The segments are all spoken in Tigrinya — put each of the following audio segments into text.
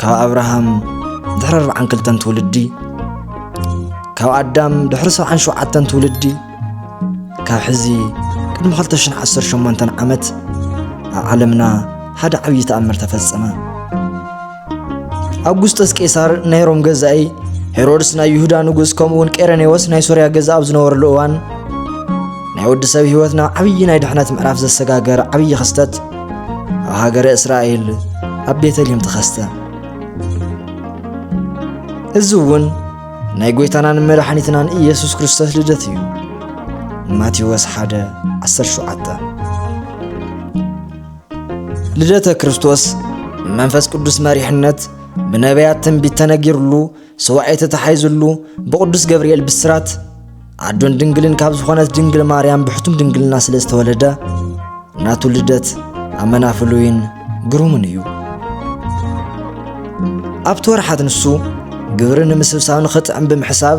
ካብ ኣብርሃም ድሕሪ ኣርብዓን ክልተን ትውልዲ ካብ ኣዳም ድሕሪ ሰብዓን ሸውዓተን ትውልዲ ካብ ሕዚ ቅድሚ 218 ዓመት ኣብ ዓለምና ሓደ ዓብዪ ተኣምር ተፈጸመ ኣጉስጠስ ቄሳር ናይ ሮም ገዛኢ ሄሮድስ ናይ ይሁዳ ንጉስ ከምኡውን ቄረኔዎስ ናይ ሶርያ ገዛ ኣብ ዝነበረሉ እዋን ናይ ወዲ ሰብ ህይወት ናብ ዓብዪ ናይ ድሕነት ምዕራፍ ዘሰጋገር ዓብዪ ክስተት ኣብ ሃገረ እስራኤል ኣብ ቤተልሔም ተኸስተ እዚ እውን ናይ ጐይታናን መድሓኒትናን ኢየሱስ ክርስቶስ ልደት እዩ ማቴዎስ 1 17 ልደተ ክርስቶስ መንፈስ ቅዱስ መሪሕነት ብነቢያት ትንቢት ተነጊርሉ ሱባኤ ተታሒዙሉ ብቅዱስ ገብርኤል ብስራት ኣዶን ድንግልን ካብ ዝኾነት ድንግል ማርያም ብሕቱም ድንግልና ስለ ዝተወለደ ናቱ ልደት ኣመና ፍሉይን ግሩምን እዩ ኣብቲ ወርሓት ንሱ ግብሪ ንምስብሳብ ንኽጥዕም ብምሕሳብ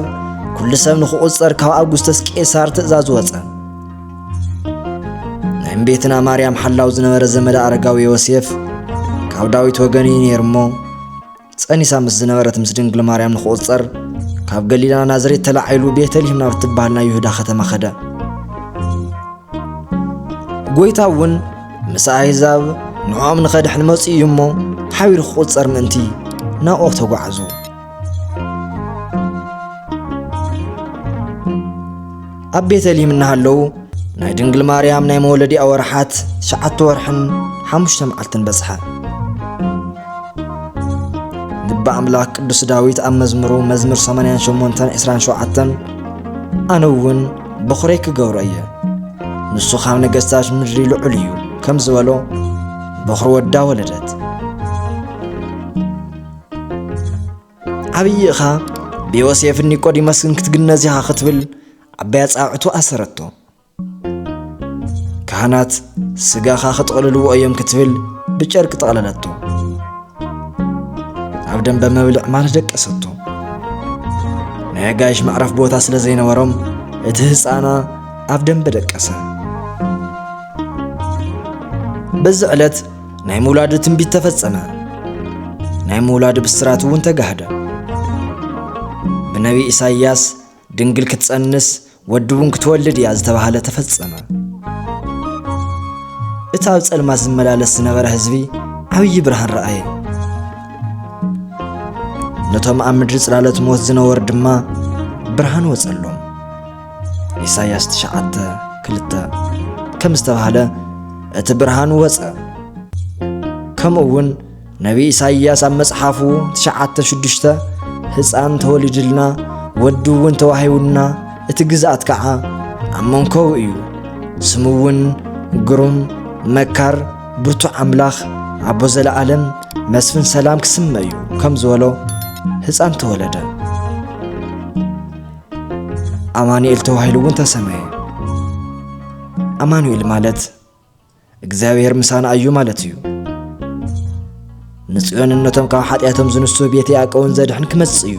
ኩሉ ሰብ ንኽቝጸር ካብ ኣጉስተስ ቄሳር ትእዛዝ ወጸ ናይ እምቤትና ማርያም ሓላው ዝነበረ ዘመደ ኣረጋዊ ዮሴፍ ካብ ዳዊት ወገን እዩ ነይሩ እሞ ጸኒሳ ምስ ዝነበረት ምስ ድንግል ማርያም ንክቁጸር ካብ ገሊላ ናዝሬት ተላዒሉ ቤተልሔም ናብ እትበሃል ናይ ይሁዳ ከተማ ከደ። ጎይታ እውን ምስ ኣህዛብ ንዕኦም ንኸድሕን መጽኡ እዩ እሞ ሓቢሩ ክቁጸር ምእንቲ ናብኦ ተጓዕዙ። ኣብ ቤተልሔም እናሃለዉ ናይ ድንግል ማርያም ናይ መወለዲኣ ወርሓት ትሽዓተ ወርሕን ሓሙሽተ መዓልትን በጽሐ። ግቢ ኣምላኽ ቅዱስ ዳዊት ኣብ መዝሙሩ መዝሙር 88 27 ኣነ እውን በኹረይ ክገብሮ እየ ንሱ ካብ ነገስታት ምድሪ ልዑል እዩ ከም ዝበሎ በኹሪ ወዳ ወለደት። ዓብዪ እኻ ብዮሴፍን ኒቆዲሞስን ክትግነዝ ኢኻ ክትብል ዓባይ ኣጻብዕቱ ኣሰረቶ። ካህናት ስጋኻ ክጥቕልልዎ እዮም ክትብል ብጨርቂ ጠቕለለቶ። ኣብ ደንበ መብልዕ ማል ደቀሰቶ። ናይ ኣጋይሽ መዕረፍ ቦታ ስለ ዘይነበሮም እቲ ህፃና ኣብ ደንበ ደቀሰ። በዚ ዕለት ናይ ምውላዱ ትንቢት ተፈጸመ፣ ናይ ምውላዱ ብስራት እውን ተጋህደ። ብነቢ ኢሳይያስ ድንግል ክትጸንስ ወዲ እውን ክትወልድ እያ ዝተባህለ ተፈጸመ። እቲ ኣብ ጸልማት ዝመላለስ ዝነበረ ህዝቢ ዓብዪ ብርሃን ረኣየ። ነቶም ኣብ ምድሪ ጽላሎት ሞት ዝነበሩ ድማ ብርሃን ወጸሎም። ኢሳያስ ትሽዓተ ክልተ ከም ዝተባህለ እቲ ብርሃን ወፀ ከምኡ እውን ነቢ ኢሳይያስ ኣብ መጽሓፉ ትሽዓተ ሽዱሽተ ህፃን ተወሊድልና ወዲ እውን ተዋሂቡና እቲ ግዝኣት ከዓ ኣብ መንኮው እዩ ስሙ እውን ግሩም መካር ብርቱዕ ኣምላኽ ኣቦ ዘለኣለም መስፍን ሰላም ክስመ እዩ ከም ዝበሎ ህፃን ተወለደ ኣማኑኤል ተባሂሉ እውን ተሰመየ። ኣማኑኤል ማለት እግዚኣብሔር ምሳና እዩ ማለት እዩ። ንጽዮንን ነቶም ካብ ሓጢኣቶም ዝንሱ ቤት ያዕቆብን ዘድሕን ክመጽእ እዩ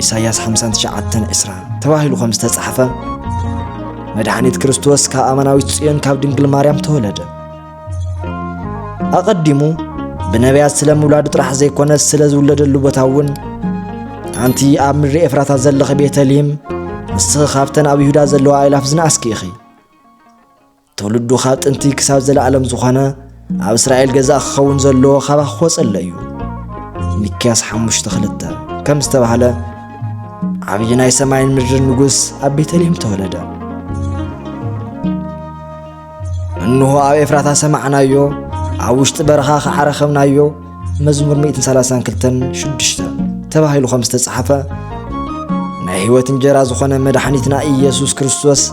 ኢሳይያስ 59 ዕስራ ተባሂሉ ከም ዝተጻሕፈ መድሓኒት ክርስቶስ ካብ ኣማናዊት ጽዮን ካብ ድንግል ማርያም ተወለደ ኣቐዲሙ ብነቢያት ስለ ምውላዱ ጥራሕ ዘይኮነስ ስለ ዝውለደሉ ቦታ እውን ኣንቲ ኣብ ምድሪ ኤፍራታ ዘለኺ ቤተልሔም ንስኺ ካብተን ኣብ ይሁዳ ዘለዋ ኣእላፍ ዝነኣስኪ ኢኺ ትውልዱ ካብ ጥንቲ ክሳብ ዘለኣለም ዝኾነ ኣብ እስራኤል ገዛእ ክኸውን ዘለዎ ካባኺ ክወፀለ እዩ ሚክያስ ሓሙሽተ ክልተ ከም ዝተባህለ ዓብዪ ናይ ሰማይን ምድርን ንጉስ ኣብ ቤተልሔም ተወለደ እንሆ ኣብ ኤፍራታ ሰማዕናዮ ኣብ ውሽጢ በረኻ ኸዓ ረኸብናዮ መዝሙር 132 ሽዱሽተ ተባሂሉ ከም ዝተጻሕፈ ናይ ሕይወት እንጀራ ዝኾነ መድኃኒትና ኢየሱስ ክርስቶስ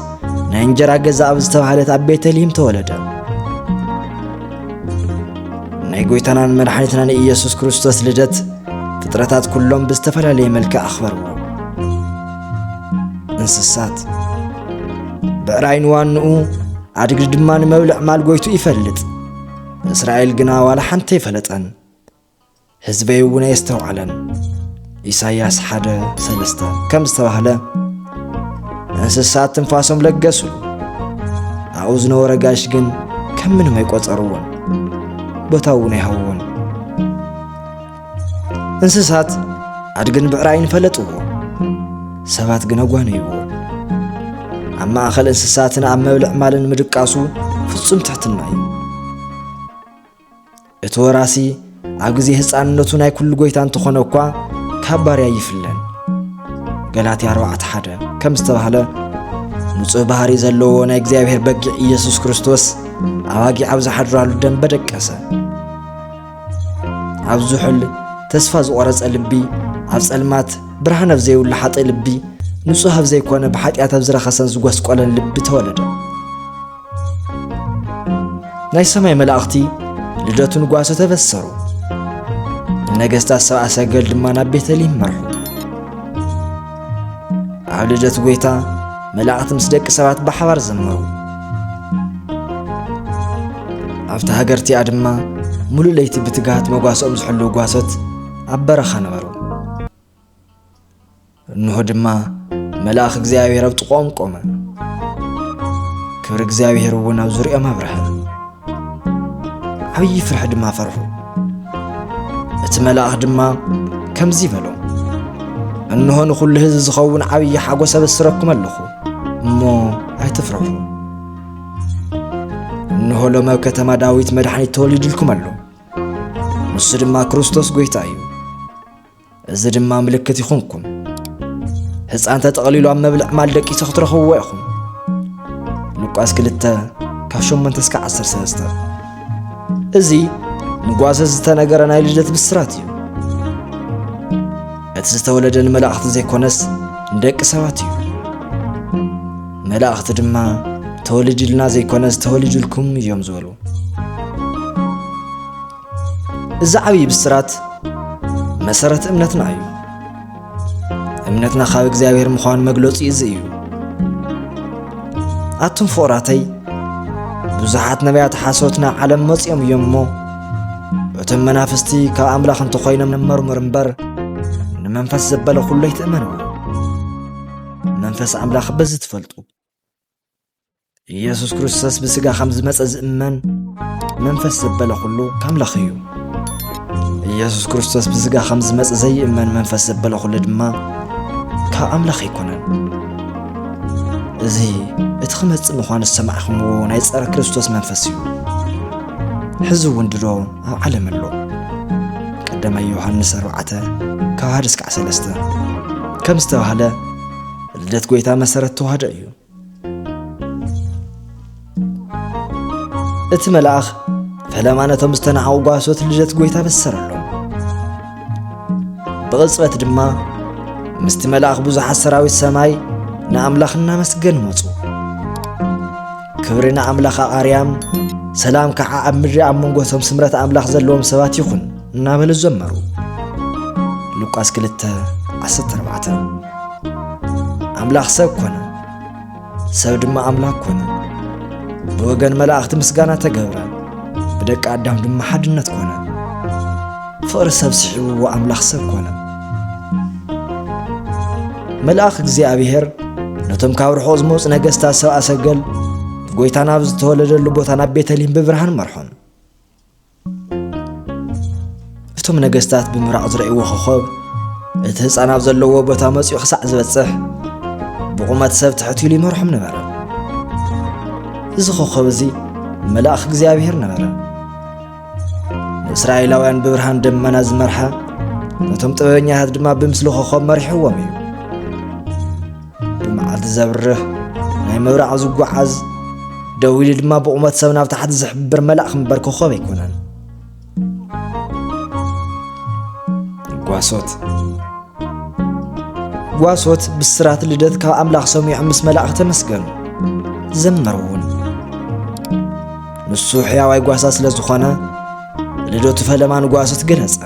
ናይ እንጀራ ገዛ ኣብ ዝተባህለት ኣብ ቤተልሔም ተወለደ ናይ ጐይታናን መድኃኒትናን ኢየሱስ ክርስቶስ ልደት ፍጥረታት ኩሎም ብዝተፈላለየ መልክዕ ኣኽበርዎ እንስሳት ብዕራይ ንዋንኡ ኣድጊ ድማ ንመብልዕ ማል ጎይቱ ይፈልጥ እስራኤል ግና ዋላ ሓንቲ ኣይፈለጠን ህዝበይ እውን ኣየስተውዓለን ኢሳይያስ ሓደ ሰለስተ ከም ዝተባህለ እንስሳት ትንፋሶም ለገሱ ኣብኡ ዝነበረ ጋሽ ግን ከም ምንም ኣይቆጸርዎን ቦታ እውን ኣይሃውዎን እንስሳት ኣድግን ብዕራይን ፈለጥዎ፣ ሰባት ግን ኣጓነይዎ። ኣብ ማእኸል እንስሳትን ኣብ መብልዕ ማልን ምድቃሱ ፍጹም ትሕትና እዩ። እቲ ወራሲ ኣብ ግዜ ህፃንነቱ ናይ ኩሉ ጎይታ እንተኾነ እኳ ካብ ባርያ ይፍለን። ገላትያ 4 ሓደ ከም ዝተባህለ ንጹህ ባህሪ ዘለዎ ናይ እግዚኣብሔር በጊዕ ኢየሱስ ክርስቶስ ኣባጊዕ ኣብ ዝሓድራሉ ደም በደቀሰ። ኣብ ዝሑል ተስፋ ዝቖረጸ ልቢ ኣብ ጸልማት ብርሃን ኣብ ዘይብሉ ሓጥእ ልቢ ንጹህ ኣብ ዘይኮነ ብሓጢኣት ኣብ ዝረኸሰን ዝጐስቈለን ልቢ ተወለደ ናይ ሰማይ መላእኽቲ ልደቱ ንጓሶ ተበሰሩ ነገሥታት ሰብኣ ሰገል ድማ ናብ ቤተልሔም መርሑ ኣብ ልደት ጎይታ መላእኽቲ ምስ ደቂ ሰባት ብሓባር ዘመሩ ኣብቲ ሃገር እቲኣ ድማ ሙሉእ ለይቲ ብትግሃት መጓሰኦም ዝሕልው ጓሶት ኣብ በረኻ ነበሩ እንሆ ድማ መልኣኽ እግዚኣብሔር ኣብ ጥቆኦም ቆመ ክብሪ እግዚኣብሔር እውን ኣብ ዙሪኦም ኣብርሀ ዓብዪ ፍርሒ ድማ ፈርሑ። እቲ መልኣኽ ድማ ከምዚ በሎም፣ እንሆ ንዅሉ ህዝቢ ዝኸውን ዓብዪ ሓጐስ ኣበስረኩም ኣለኹ እሞ ኣይትፍርሑ። እንሆ ሎሚ ኣብ ከተማ ዳዊት መድሓኒት ተወሊድልኩም ኣሎ፣ ንሱ ድማ ክርስቶስ ጐይታ እዩ። እዚ ድማ ምልክት ይኹንኩም። ህፃን ተጠቕሊሉ ኣብ መብልዕ ማል ደቂሱ ክትረኽብዎ ኢኹም። ሉቃስ 2 ካብ 8 እስከ 13 እዚ ንጓሰ ዝተነገረ ናይ ልደት ብስራት እዩ። እቲ ዝተወለደ ንመላእኽቲ ዘይኮነስ ንደቂ ሰባት እዩ። መላእኽቲ ድማ ተወልድልና ዘይኮነስ ተወልድልኩም እዮም ዝበሉ። እዚ ዓብዪ ብስራት መሰረት እምነትና እዩ። እምነትና ካብ እግዚኣብሔር ምዃኑ መግለፂ እዚ እዩ። ኣቱም ፍቑራተይ ብዙሓት ነቢያት ሓሶት ናብ ዓለም መፂኦም እዮም እሞ እቶም መናፍስቲ ካብ ኣምላኽ እንተኾይኖም መርምር እምበር ንመንፈስ ዘበለ ኩሉ ኣይትእመኑ መንፈስ ኣምላኽ በዚ ትፈልጡ ኢየሱስ ክርስቶስ ብስጋ ከም ዝመጸ ዝእመን መንፈስ ዘበለ ኩሉ ከምለኽ እዩ ኢየሱስ ክርስቶስ ብስጋ ከም ዝመጸ ዘይእመን መንፈስ ዘበለ ኩሉ ድማ ካብ ኣምላኽ ኣይኮነን እዚ እቲ ክመጽእ ምዃኑ ዝሰማዕኹምዎ ናይ ጸረ ክርስቶስ መንፈስ እዩ ሕዚ እውን ድሮ ኣብ ዓለም ኣሎ ቀዳማይ ዮሃንስ 4 ካብ 1 እስካዕ 3 ከም ዝተባህለ ልደት ጎይታ መሰረት ተዋህዶ እዩ እቲ መልኣኽ ፈለማ ነቶም ዝተናዓቑ ጓሶት ልደት ጐይታ በሰረሎም ብቕጽበት ድማ ምስቲ መልኣኽ ብዙሓት ሰራዊት ሰማይ ንኣምላኽ እናመስገኑ መጹ ክብሪ ንኣምላኽ ኣርያም ሰላም ከዓ ኣብ ምድሪ ኣብ መንጎቶም ስምረት ኣምላኽ ዘለዎም ሰባት ይኹን እናበሉ ዘመሩ ሉቃስ 2 14 ኣምላኽ ሰብ ኮነ ሰብ ድማ ኣምላኽ ኮነ ብወገን መላእኽቲ ምስጋና ተገብረ ብደቂ ኣዳም ድማ ሓድነት ኮነ ፍቕሪ ሰብ ስሒብዎ ኣምላኽ ሰብ ኮነ መልኣኽ እግዚኣብሔር ነቶም ካብ ርሑቕ ዝመፁ ነገስታት ሰብኣ ሰገል ጎይታ ናብ ዝተወለደሉ ቦታ ናብ ቤተልሔም ብብርሃን መርሖም እቶም ነገስታት ብምራቕ ዝረእይዎ ኾኾብ እቲ ህፃን ኣብ ዘለዎ ቦታ መፂኡ ክሳዕ ዝበፅሕ ብቑመት ሰብ ትሕት ኢሉ ይመርሖም ነበረ እዚ ኾኾብ እዚ መልኣኽ እግዚኣብሔር ነበረ ንእስራኤላውያን ብብርሃን ደመና ዝመርሓ ነቶም ጥበበኛታት ድማ ብምስሊ ኾኾብ መሪሕዎም እዩ ብመዓልቲ ዘብርህ ናይ ምብራቕ ዝጓዓዝ ደው ኢሉ ድማ ብቑመት ሰብ ናብ ታሕቲ ዝሕብር መላእኽ እምበር ኮኸብ ኣይኮነን ጓሶት ጓሶት ብስራት ልደት ካብ ኣምላኽ ሰሚዖም ምስ መላእኽ ተመስገኑ ዘመሩ እውን ንሱ ሕያዋይ ጓሳ ስለ ዝኾነ ልደቱ ፈለማ ንጓሶት ገለጸ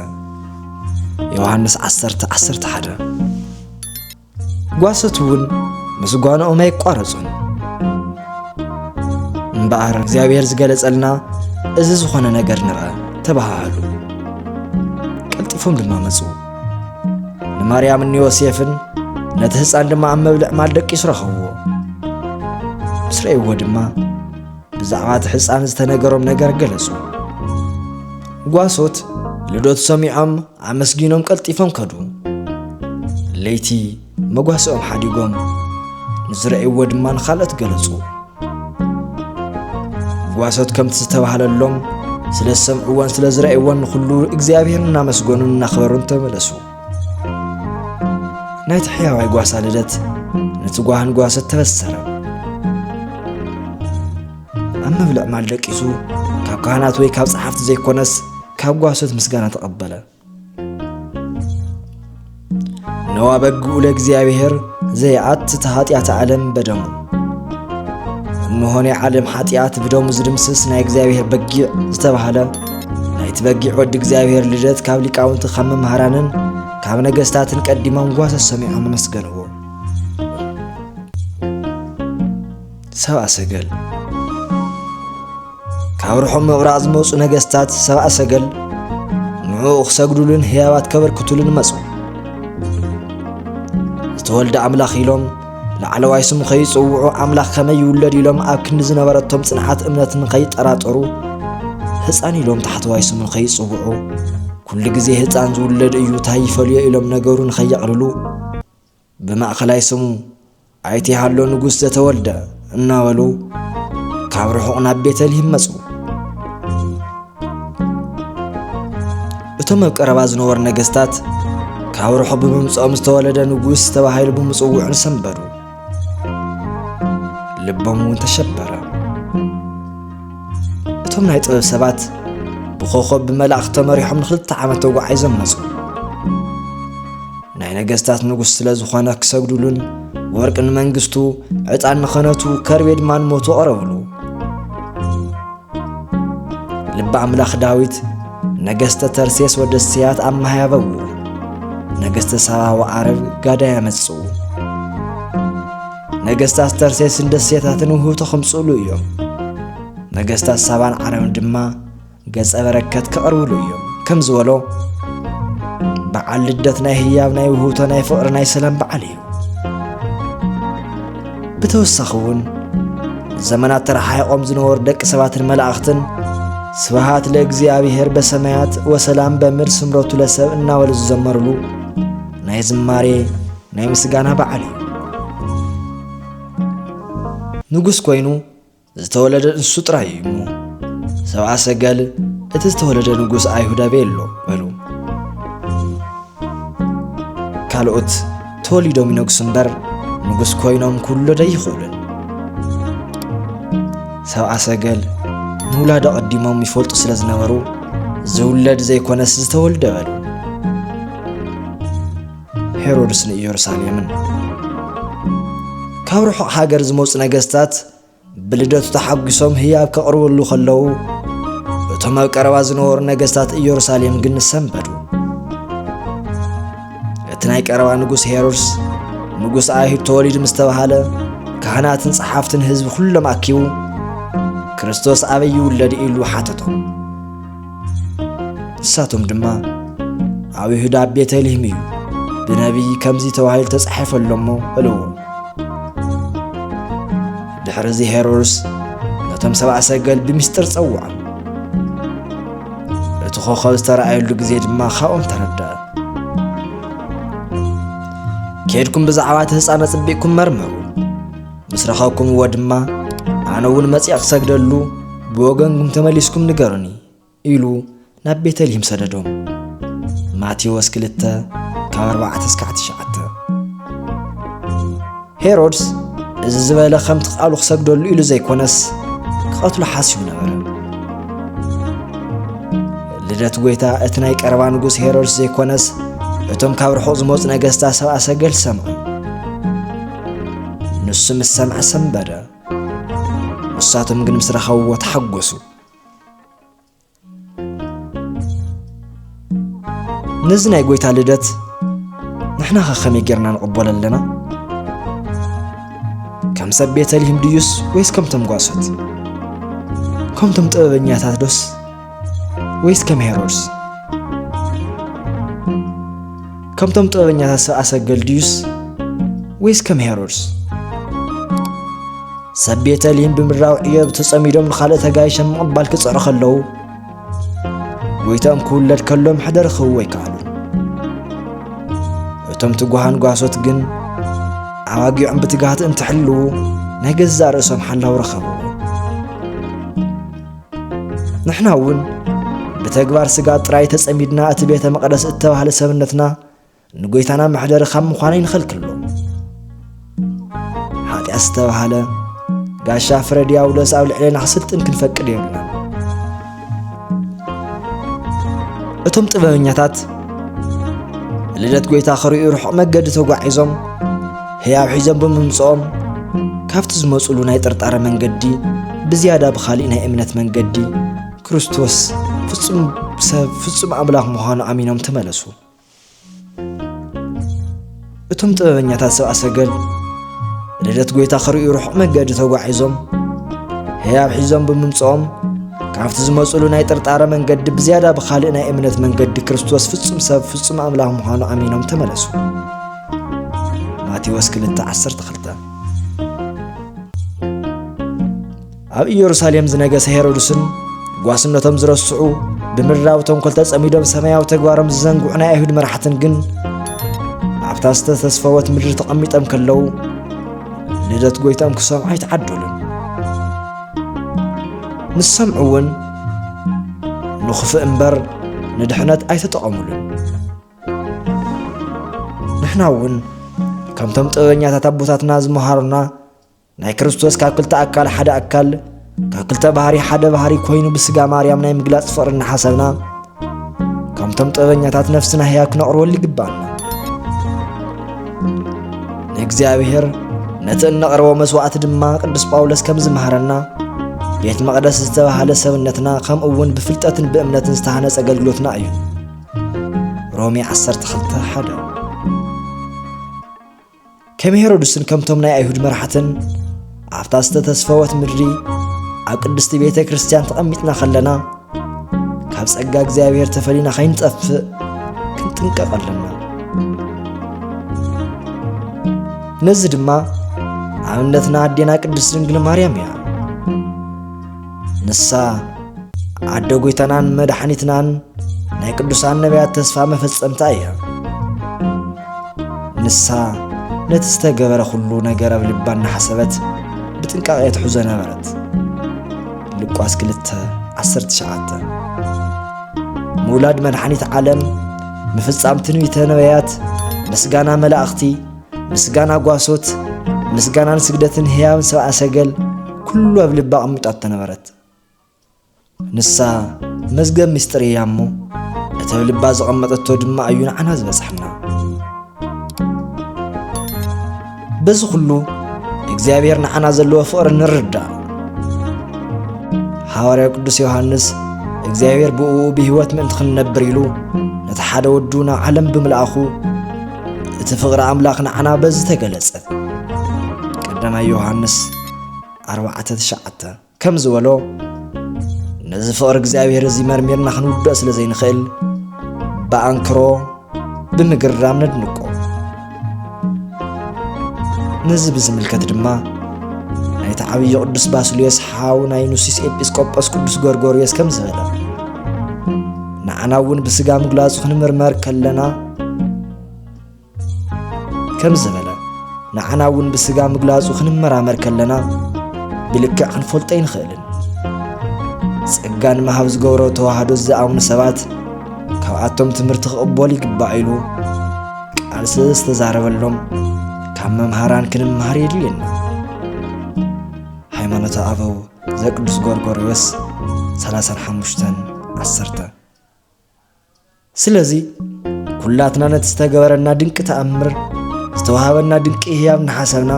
ዮሃንስ 10 11 ጓሶት እውን ምስጓንኦም ኣይቋረጹን። እምበኣር እግዚኣብሔር ዝገለጸልና እዚ ዝኾነ ነገር ንርኣ ተባሃሃሉ። ቀልጢፎም ድማ መጹ። ንማርያምን ንዮሴፍን ነቲ ህፃን ድማ ኣብ መብልዕ ማል ደቂሱ ረኸብዎ። ምስ ረእይዎ ድማ ብዛዕባ እቲ ሕፃን ዝተነገሮም ነገር ገለጹ። ጓሶት ልደቱ ሰሚዖም ኣመስጊኖም ቀልጢፎም ከዱ። ለይቲ መጓሰኦም ሓዲጎም ንዝረእይዎ ድማ ንኻልኦት ገለጹ። ጓሶት ከምቲ ዝተባህለሎም ስለ ዝሰምዕዎን ስለ ዝረእይዎን ንኹሉ እግዚኣብሔር እናመስገኑን እናኽበሩን ተመለሱ። ናይቲ ሕያዋይ ጓሳ ልደት ነቲ ጓህን ጓሶት ተበሰረ። ኣብ ምብልዕማል ደቂሱ ካብ ካህናት ወይ ካብ ጸሓፍቲ ዘይኮነስ ካብ ጓሶት ምስጋና ተቐበለ ነዋ በግኡ ለእግዚኣብሔር ዘይኣትት ኃጢኣት ዓለም በደሙ እነሆ ናይ ዓለም ኃጢኣት ብደሙ ዝድምስስ ናይ እግዚኣብሔር በጊዕ ዝተባህለ ናይቲ በጊዕ ወዲ እግዚኣብሔር ልደት ካብ ሊቃውንቲ ካብ መምህራንን ካብ ነገሥታትን ቀዲሞም ጓሶት ሰሚዖም ኣመስገንዎ ሰብኣ ሰገል ካብ ርሑቕ ምብራቕ ዝመፁ ነገስታት ሰብኣ ሰገል ንዕኡ ክሰግዱሉን ህያባት ከበርክቱሉን መፁ ዝተወልደ ኣምላኽ ኢሎም ላዕለዋይ ስሙ ከይጽውዑ ኣምላኽ ከመይ ይውለድ ኢሎም ኣብ ክንዲ ዝነበረቶም ጽንዓት እምነት ንኸይጠራጠሩ ህፃን ኢሎም ታሕተዋይ ስሙ ከይጽውዑ ኩሉ ግዜ ህፃን ዝውለድ እዩ ታይ ይፈልዮ ኢሎም ነገሩ ንኸየቕልሉ ብማእኸላይ ስሙ ኣይተ ሃሎ ንጉስ ዘተወልደ እናበሉ ካብ ርሑቕ ናብ ቤተልሂም መፁ። እቶም ኣብ ቀረባ ዝነበሩ ነገስታት ካብ ርሑቕ ብምምፅኦም ዝተወለደ ንጉስ ተባሂሉ ብምፅውዑን ሰንበዱ፣ ልቦም እውን ተሸበረ። እቶም ናይ ጥበብ ሰባት ብኾኾብ ብመላእኽቲ ተመሪሖም ንክልተ ዓመት ተጓዒዞም መፁ ናይ ነገስታት ንጉስ ስለ ዝኾነ ክሰግዱሉን ወርቂ ንመንግስቱ ዕጣን ንኸነቱ ከርቤ ድማ ንሞቱ ቐረብሉ ልቢ ኣምላኽ ዳዊት ነገስተ ተርሴስ ወደ ስያት ኣመሃያበው ነገስተ ሳባ ወዓረብ ጋዳ ያመጽኡ ነገስታት ተርሴስን ደሴታትን ውህብቶ ከምጽእሉ እዮም ነገስታት ሳባን ዓረብን ድማ ገጸ በረከት ከቕርብሉ እዮም ከም ዝበሎ በዓል ልደት ናይ ህያብ ናይ ውህብቶ ናይ ፍቕሪ ናይ ሰላም በዓል እዩ ብተወሳኺ እውን ዘመናት ተረሓሒቖም ዝነበሩ ደቂ ሰባትን መላእኽትን ስብሃት ለእግዚኣብሔር በሰማያት ወሰላም በምድር ስምረቱ ለሰብ እናበሉ ዝዘመርሉ ናይ ዝማሬ ናይ ምስጋና በዓል እዩ። ንጉስ ኮይኑ ዝተወለደ ንሱ ጥራይ እዩ እሞ ሰብኣ ሰገል እቲ ዝተወለደ ንጉስ ኣይሁድ ኣበይ ኣሎ በሉ። ካልኦት ተወሊዶም ይነግሱ እምበር ንጉስ ኮይኖም ክውለደ ኣይኽእሉን። ሰብኣ ሰገል ንውላድ ኣቐዲሞም ይፈልጡ ስለ ዝነበሩ ዝውለድ ዘይኮነስ ዝተወልደ በሉ። ሄሮድስ ንኢየሩሳሌምን ካብ ርሑቕ ሃገር ዝመፁ ነገስታት ብልደቱ ተሓጒሶም ህያብ ከቕርብሉ ከለዉ እቶም ኣብ ቀረባ ዝነበሩ ነገስታት ኢየሩሳሌም ግን ሰንበዱ እቲ ናይ ቀረባ ንጉስ ሄሮድስ ንጉስ ኣይሁድ ተወሊዱ ምስ ተባሃለ ካህናትን ጸሓፍትን ህዝቢ ኩሎም ኣኪቡ ክርስቶስ ኣበይ ይውለድ ኢሉ ሓተቶም ንሳቶም ድማ ኣብ ይሁዳ ኣብ ቤተልሔም እዩ ብነቢይ ከምዚ ተባሂሉ ተጻሒፈ ኣሎ እሞ በልዎ ድሕሪ እዚ ሄሮድስ ነቶም ሰብኣ ሰገል ብምስጢር ጸውዖም እቲ ኾኸብ ዝተረኣየሉ ግዜ ድማ ካብኦም ተረድኣ ከድኩም ብዛዕባ እቲ ህፃን ኣጽቢቕኩም መርምሩ ምስ ረኸብኩምዎ ድማ ኣነ እውን መጺኣ ክሰግደሉ ብወገንኩም ተመሊስኩም ንገሩኒ ኢሉ ናብ ቤተልሔም ሰደዶም ማቴዎስ 2 ካብ 4 እስካዕ 9 ሄሮድስ እዚ ዝበለ ከምቲ ቃሉ ክሰግደሉ ኢሉ ዘይኮነስ ክቐትሎ ሓስዩ ነበረ ልደት ጎይታ እቲ ናይ ቀረባ ንጉስ ሄሮድስ ዘይኮነስ እቶም ካብ ርሑቕ ዝመፁ ነገስታ ሰብኣ ሰገል ሰምዑ ንሱ ምስ ሰምዐ ሰንበደ፣ ንሳቶም ግን ምስ ረኸብዎ ተሓጐሱ። ነዚ ናይ ጐይታ ልደት ንሕና ኸ ከመይ ጌርና ንቕበሎ ኣለና? ከም ሰብ ቤተልሔም ድዩስ ወይስ ከምቶም ጓሶት? ከምቶም ጥበበኛታት ዶስ ወይስ ከም ሄሮድስ ከምቶም ጥበበኛታት ሰብ ኣሰገል ድዩስ ወይስ ከም ሄሮድስ ሰብ ቤተልሔም ብምድራዊ ዕዮ ተጸሚዶም ንኻልእ ተጋይሸ ምቕባል ክጽዕሩ ከለዉ ጎይታኦም ክውለድ ከሎ ምሕደር ክህቡ ኣይከኣሉ እቶም ትጓሃን ጓሶት ግን ኣባጊዖም ብትግሃት እንትሕልዉ ናይ ገዛእ ርእሶም ሓላው ረኸቡ ንሕና እውን ብተግባር ስጋ ጥራይ ተጸሚድና እቲ ቤተ መቕደስ እተባህለ ሰብነትና ንጐይታና መሕደሪ ካብ ምዃኑ ይንኸልክሎ ሓጢኣት ዝተባህለ ጋሻ ፍረ ዲያብሎስ ኣብ ልዕሌና ክስልጥን ክንፈቅድ የብልና እቶም ጥበበኛታት ልደት ጐይታ ክርእዩ ርሑቕ መገዲ ተጓዒዞም ህያብ ሒዞም ብምምፅኦም ካብቲ ዝመፁሉ ናይ ጥርጣረ መንገዲ ብዝያዳ ብኻሊእ ናይ እምነት መንገዲ ክርስቶስ ፍጹም ሰብ ፍጹም ኣምላኽ ምዃኑ ኣሚኖም ተመለሱ እቶም ጥበበኛታት ሰብኣ ሰገል ልደት ጐይታ ክርእዩ ርሑቕ መገዲ ተጓዒዞም ህያብ ሒዞም ብምምፅኦም ካብቲ ዝመፅሉ ናይ ጥርጣረ መንገዲ ብዝያዳ ብኻልእ ናይ እምነት መንገዲ ክርስቶስ ፍጹም ሰብ ፍጹም ኣምላኽ ምዃኑ ኣሚኖም ተመለሱ ማቴዎስ ክልተ ዓሰርተ ክልተ ኣብ ኢየሩሳሌም ዝነገሰ ሄሮድስን ጓስነቶም ዝረስዑ ብምድራዊ ተንኮል ተጸሚዶም ሰማያዊ ተግባሮም ዝዘንግዑ ናይ ኣይሁድ መራሕትን ግን ኣብታ ዝተተስፈወት ምድሪ ተቐሚጦም ከለዉ ልደት ጐይታኦም ክሰምዑ ኣይተዓደሉን ንሰምዑ እውን ንኽፍእ እምበር ንድሕነት ኣይተጠቐሙሉን ንሕና እውን ከምቶም ጥበበኛታት ኣቦታትና ዝመሃሩና ናይ ክርስቶስ ካብ ክልተ ኣካል ሓደ ኣካል ካብ ክልተ ባህሪ ሓደ ባህሪ ኮይኑ ብስጋ ማርያም ናይ ምግላፅ ፍቕሪ እናሓሰብና ከምቶም ጥበበኛታት ነፍስና ህያ ክነቕርበሉ ይግባና ንእግዚኣብሔር ነቲ እነቕርቦ መስዋዕቲ ድማ ቅዱስ ጳውሎስ ከም ዝመሃረና ቤት መቕደስ ዝተባህለ ሰብነትና ከምኡ እውን ብፍልጠትን ብእምነትን ዝተሃነፀ ኣገልግሎትና እዩ ሮሜ ዓሰርተ ክልተ ሓደ ከም ሄሮድስን ከምቶም ናይ ኣይሁድ መራሕትን ኣብታ ዝተተስፈወት ምድሪ ኣብ ቅድስቲ ቤተ ክርስቲያን ተቐሚጥና ኸለና ካብ ጸጋ እግዚኣብሔር ተፈሊና ኸይንጠፍእ ክንጥንቀቕ ኣለና ነዚ ድማ ኣብነትና ኣዴና ቅድስት ድንግል ማርያም እያ ንሳ ዓደ ጐይታናን መድሓኒትናን ናይ ቅዱሳን ነቢያት ተስፋ መፈጸምታ እያ። ንሳ ነቲ ዝተገበረ ዅሉ ነገር ኣብ ልባ እናሓሰበት ብጥንቃቐ ትሕዞ ነበረት። ሉቃስ 2 19 ምውላድ መድሓኒት ዓለም ምፍጻም ትንቢተ ነቢያት ምስጋና መላእኽቲ ምስጋና ጓሶት ምስጋናን ስግደትን ህያብን ሰብኣ ሰገል ኩሉ ኣብ ልባ ኣቕሚጣቶ ነበረት ንሳ መዝገብ ምስጢር እያ እሞ እቲ ኣብ ልባ ዘቐመጠቶ ድማ እዩ ንዓና ዝበፅሐና በዚ ኩሉ እግዚኣብሔር ንዓና ዘለዎ ፍቕሪ ንርዳእ ሃዋርያ ቅዱስ ዮሃንስ እግዚኣብሔር ብእኡ ብህይወት ምእንቲ ክንነብር ኢሉ ነቲ ሓደ ወዱ ናብ ዓለም ብምልኣኹ እቲ ፍቕሪ ኣምላኽ ንዓና በዚ ተገለጸ ቀዳማይ ዮሃንስ 4:9 ከም ዝበሎ ነዚ ፍቕሪ እግዚኣብሔር እዚ መርሚርና ክንውድኦ ስለ ዘይንኽእል ብኣንክሮ ብምግራም ነድንቆ ነዚ ብዝምልከት ድማ ናይቲ ዓብዪ ቅዱስ ባስልዮስ ሓው ናይ ኑሲስ ኤጲስቆጶስ ቅዱስ ጎርጎርዮስ ከም ዝበለ ንዓና እውን ብስጋ ምግላጹ ክንምርመር ከለና ከም ዝበለ ንዓና እውን ብስጋ ምግላጹ ክንመራመር ከለና ብልክዕ ክንፈልጦ ኣይንኽእልን ጸጋ ንምሃብ ዝገብሮ ተዋህዶ ዝኣምኑ ሰባት ካብኣቶም ትምህርቲ ክቕበሉ ይግባእ ኢሉ ቃል ስለ ዝተዛረበሎም ካብ መምሃራን ክንምሃር የድልየና ሃይማኖተ ኣበው ዘቅዱስ ጎርጎርዮስ 35 10 ስለዚ ኩላትና ነቲ ዝተገበረና ድንቂ ተኣምር ዝተዋሃበና ድንቂ ህያብ ንሓሰብና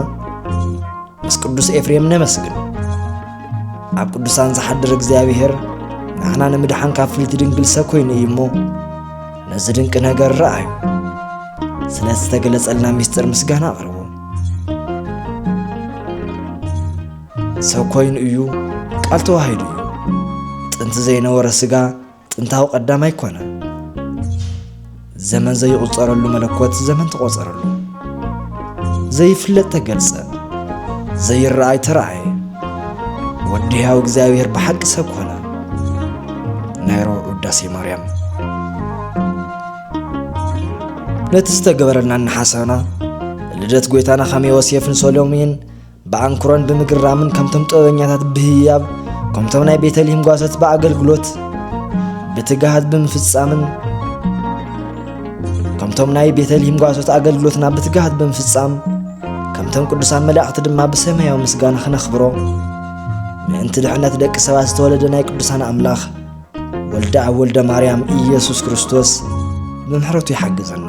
ምስ ቅዱስ ኤፍሬም ነመስግን ኣብ ቅዱሳን ዝሓድር እግዚኣብሔር ንሕና ንምድሓን ካብ ፍልቲ ድንግል ሰብ ኮይኑ እዩ እሞ ነዚ ድንቂ ነገር ረኣዩ ስለ ዝተገለጸልና ምስጢር ምስጋና ኣቕርቡ ሰብ ኮይኑ እዩ ቃል ተዋሂዱ እዩ ጥንቲ ዘይነበረ ስጋ ጥንታዊ ቀዳም ኣይኮነን። ዘመን ዘይቝጸረሉ መለኮት ዘመን ተቖጸረሉ። ዘይፍለጥ ተገልጸ፣ ዘይረኣይ ተረኣየ። ወዲ ሕያው እግዚኣብሔር ብሓቂ ሰብ ኮነ። ናይ ረቡዕ ውዳሴ ማርያም ነቲ ዝተገበረልና እናሓሰብና ልደት ጐይታና ኸመ ዮሴፍን ሰሎሜን ብኣንክሮን ብምግራምን ከምቶም ጥበበኛታት ብህያብ ከምቶም ናይ ቤተልሔም ጓሶት ብኣገልግሎት ብትግሃት ብምፍጻምን ከምቶም ናይ ቤተልሔም ጓሶት ኣገልግሎትና ብትግሃት ብምፍጻም ከምቶም ቅዱሳን መላእኽቲ ድማ ብሰማያዊ ምስጋና ክነኽብሮ ምእንቲ ድሕነት ደቂ ሰባት ዝተወለደ ናይ ቅዱሳን ኣምላኽ ወልደ ኣብ ወልደ ማርያም ኢየሱስ ክርስቶስ ብምሕረቱ ይሓግዘና።